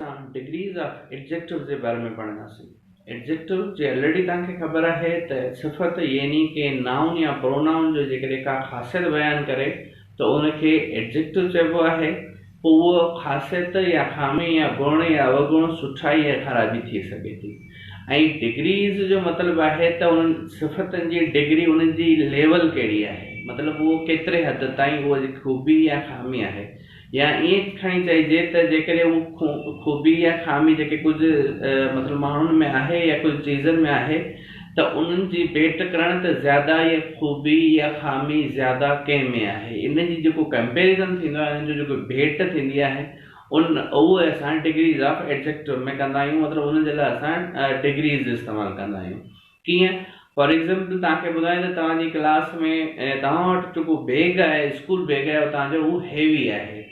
اسان degrees of adjectives جي باري ۾ پڙهنداسين. ايڊجيڪٽوز جي الريڊي توهان کي خبر آهي ته صفت يعني ڪنهن نائون يا پرونائون جو جيڪڏهن ڪا خاصيت بيان ڪري ته ان کي ايڊجيڪٽو چئبو آهي پوء اهو خاصيت يا خامي يا گڻ يا اوگڻ سٺائي يا خرابي ٿي سگهي ٿي ۽ ڊگريز جو مطلب آهي ته انهن صفتن جي ڊگري انهن جي ليول ڪهڙي آهي مطلب اهو ڪيتري حد تائين اهو خوبي يا خامي آهي يا ائين کڻي چئجي ته جيڪڏهن اها خوبي يا خامي جيڪي ڪجهه مطلب ماڻهن ۾ آهي يا ڪجهه چيزن ۾ آهي ته انهن جي ڀيٽ ڪرڻ ته زياده اها خوبي يا خامي زياده ڪنهن ۾ آهي ان جي جيڪو ڪمپيريزن ٿيندو آهي ان جي جيڪي ڀيٽ ٿيندي آهي ان اهو اسان ڊگريز آف ايڊجيڪٽو ۾ ڪندا آهيون مطلب ان جي لاء اسان ڊگريز استعمال ڪندا آهيون. ڪيئن؟ فار ايگزيمپل توهان کي ٻڌايان ته توهان جي ڪلاس ۾ ۽ توهان وٽ جيڪو بيگ آهي اسڪول بيگ آهي توهان جو هو هيوي آهي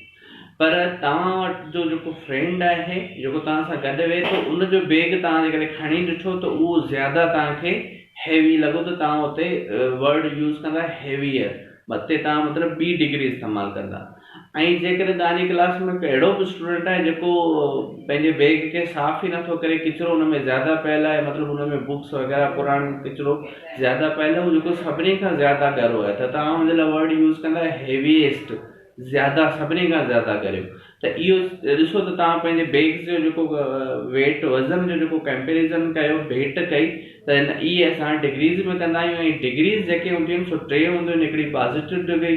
پر توهان وٽ جو جيڪو فرينڊ آهي جيڪو توهان سان گڏ ويهي ٿو ان جو بيگ توهان جي ڪري کڻي ڏٺو ته اهو زياده توهان کي هيوي لڳو ته توهان اتي ورڊ يوز ڪندا هيويئر مٿي توهان مطلب ٻي ڊگري استعمال ڪندا ۽ جيڪڏهن توهانجي ڪلاس ۾ ڪو اهڙو به اسٽوڊنٽ آهي جيڪو پنهنجي بيگ کي صاف ئي نٿو ڪري ڪچرو ان ۾ زياده پيل آهي مطلب ان ۾ بڪس وغيره پراڻ ڪچرو زياده پيل آهي جيڪو سڀني کان زياده ڳرو آهي ته توهان ان جي لاء ورڊ يوز ڪندا هيويئسٽ زياده سڀني کان زياده ڳريو ته اهو ڏسو ته توهان پنهنجي بيگس جو جيڪو ويٽ وزن جو جيڪو ڪمپيريزن ڪيو ڀيٽ ڪئي ته هن اي اسان ڊگريز ۾ ڪندا آهيون ۽ ڊگريز جيڪي هونديون آهن سو ٽي هونديون آهن هڪڙي پازيٽو ڊگري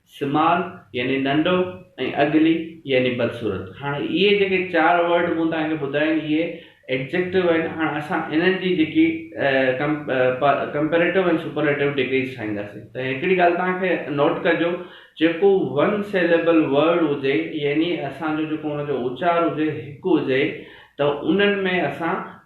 سمال يعني ننڍو ۽ اگلي يعني بدصورت. هاڻ اهي جيڪي چار ورڊ مون توهان کي ٻڌايا آهن اهي ايڊجيڪٽو آهن هاڻ اسان انهن جي جيڪي ڪمپيريٽو ۽ سپرليٽو ڊگريز ٺاهينداسين ته هڪڙي ڳالهه توهان کي نوٽ ڪجو جيڪو ون سيليبل ورڊ هجي يعني اسان جو جيڪو ان جو اچار هجي هڪ هجي ته انهن ۾ اسان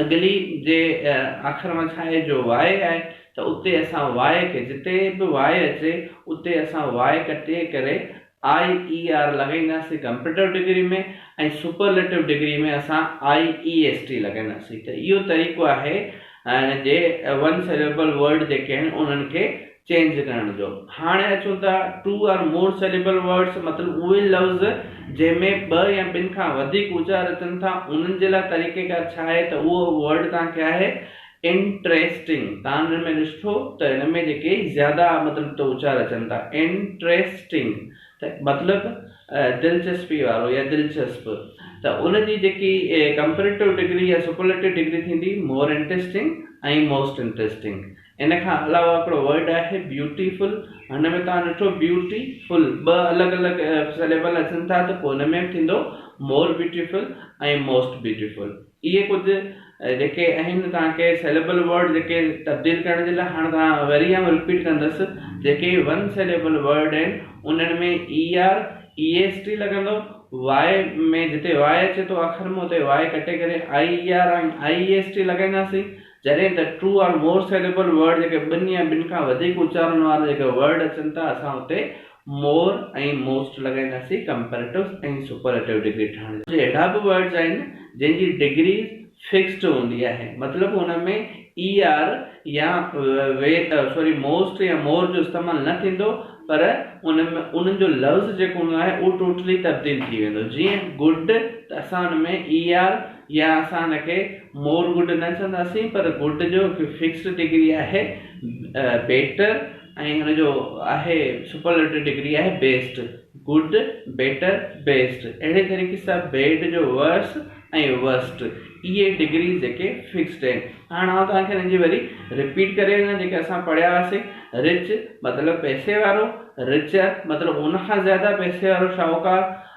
اڳلي جي آخر مان ڇا آهي جو واء آهي ته اتي اسان واء کي جتي به واء اچي اتي اسان واء ڪٽي ڪري آئي اي آر لڳائينداسين ڪمپيريٽو ڊگري ۾ ۽ سپرليٽو ڊگري ۾ اسان آئي اي ايس ٽي لڳائينداسين ته اهو طريقو آهي جي ون سيليبل ورڊ جيڪي آهن انهن کي چينج ڪرڻ جو. هاڻي اچون ٿا two or more syllable words مطلب اهي لفظ جنهن ۾ ٻه يا ٻن کان وڌيڪ اچار اچن ٿا انهن جي لاء طريقيڪار ڇا آهي ته اهو ورڊ توهان کي آهي انٽريسٽنگ تان ان ۾ ڏسٺو ته ان ۾ جيڪي زياده مطلب ته اچار اچن ٿا انٽريسٽنگ ته مطلب دلچسپي وارو يا دلچسپ ته ان جي جيڪي ڪمپريٽو ڊگري يا سپرليٽو ڊگري ٿيندي مور انٽريسٽنگ ۽ موسٽ انٽريسٽنگ ان کان علاوه هڪڙو ورڊ آهي بيوٽي فل هن ۾ توهان ڏٺو بيوٽي فل ٻه الڳ الڳ سليبل اچن ٿا ته پوء هن ۾ به ٿيندو more beautiful ۽ most beautiful اهي ڪجهه جيڪي اهن توهان کي سليبل ورڊ جيڪي تبديل ڪرڻ جي لاء هاڻ توهان وري آئون رپيٽ ڪندس جيڪي ون سليبل ورڊ آهن انهن ۾ E R E S T لڳندو واء ۾ جتي واء اچي ٿو اکر ۾ اتي واء ڪٽي ڪري I E R ۽ I E S T لڳائينداسين جڏهن ته Two or More Syllable Word جيڪي ٻن يا ٻن کان وڌيڪ اچارن وارا جيڪي ورڊ اچن ٿا اسان اتي More ۽ Most لڳائينداسين ڪمپيريٽوز ۽ سپرليٽو ڊگري ٺاهڻ جي لاء. ڪجهه اهڙا به ورڊز آهن جن جي ڊگري فڪسڊ هوندي آهي مطلب ان ۾ ER يا سوري Most يا More جو استعمال نه ٿيندو پر ان ۾ انهن جو لفظ جيڪو هوندو آهي اهو ٽوٽلي تبديل ٿي ويندو جيئن Good ته اسان ان ۾ ER يا اسان ان کي مور گڊ نه چونداسين پر گڊ جو هڪ فڪسڊ ڊگري آهي بيٽر ۽ ان جو آهي سپرليٽو ڊگري آهي بيسٽ، گڊ، بيٽر، بيسٽ، اهڙي طريقي سان بيڊ جو ورس ۽ ورسٽ اهي ڊگريز جيڪي فڪسڊ آهن هاڻ آئون توهان کي انهن جي وري رپيٽ ڪري وڃان جيڪي اسان پڙهيا هئاسي رچ مطلب پئسي وارو رچر مطلب ان کان زياده پئسي وارو شاهوڪار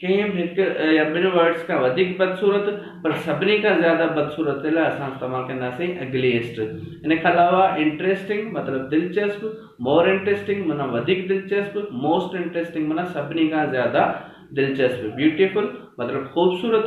ٽيم هڪ يا ٻن ورڊز کان وڌيڪ بدصورت پر سڀني کان زياده بدصورت تي لاء اسان استعمال ڪنداسين Ugliest ان کان علاوه Interesting مطلب دلچسپ More Interesting معنيٰ وڌيڪ دلچسپ Most Interesting معنيٰ سڀني کان زياده دلچسپ Beautiful مطلب خوبصورت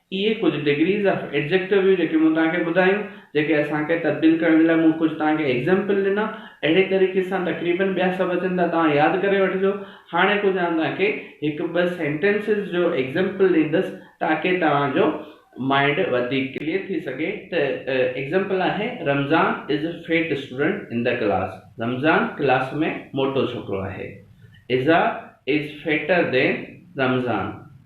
اهي ڪجهه ڊگريز آف ايڊجيڪٽو هيون جيڪي مون توهان کي ٻڌايون جيڪي اسان کي تبديل ڪرڻ جي لاء مون ڪجهه توهان کي ايگزيمپل ڏنا اهڙي طريقي سان تقريبن ٻيا سڀ اچن ٿا توهان ياد ڪري وٺجو هاڻي ڪجهه آئون توهان کي هڪ ٻه سينٽينسز جو ايگزيمپل ڏيندس تاڪي توهان جو مائنڊ وڌيڪ ڪليئر ٿي سگهي ته ايگزيمپل آهي Ramzan is a fat student in the class Ramzan class ۾ موٽو ڇوڪرو آهي ايزا از فيٽر دين رمضان.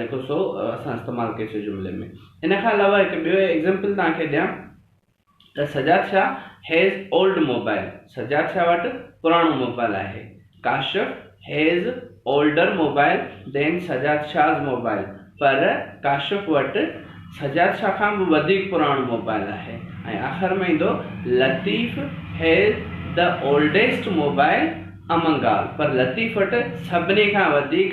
جيڪو سو اسان استعمال ڪيوسي جملي ۾. ان کان علاوه هڪ ٻيو ايگزيمپل توهان کي ڏيان ته Sajjad Shah has old mobile Sajjad Shah وٽ پراڻو موبائل آهي. Kashif has older mobile than Sajjad Shah's mobile پر ڪاشف وٽ سجاد شاهه کان به وڌيڪ پراڻو موبائل آهي ۽ آخر ۾ ايندو Latif has the oldest mobile among all پر لطيف وٽ سڀني کان وڌيڪ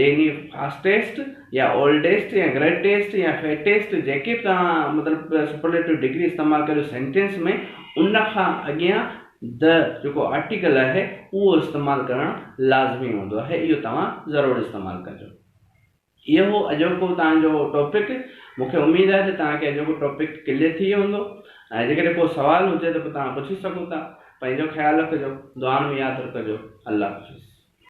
يعني فاسٽيسٽ يا اولڊيسٽ يا گريٽيسٽ يا فيٽيسٽ جيڪي به توهان مطلب سپرليٽو ڊگري استعمال ڪريو سينٽينس ۾ ان کان اڳيان the جيڪو آرٽيڪل آهي اهو استعمال ڪرڻ لازمي هوندو آهي اهو توهان ضرور استعمال ڪجو. اهو هو اڄوڪو توهان جو ٽاپڪ مون کي اميد آهي ته توهان کي اڄوڪو ٽاپڪ ڪليئر ٿي ويو هوندو ۽ جيڪڏهن ڪو سوال هجي ته پوء توهان پڇي سگهو ٿا. پنهنجو خيال رکجو. دعائن ۾ ياد رکجو. الله حافظ.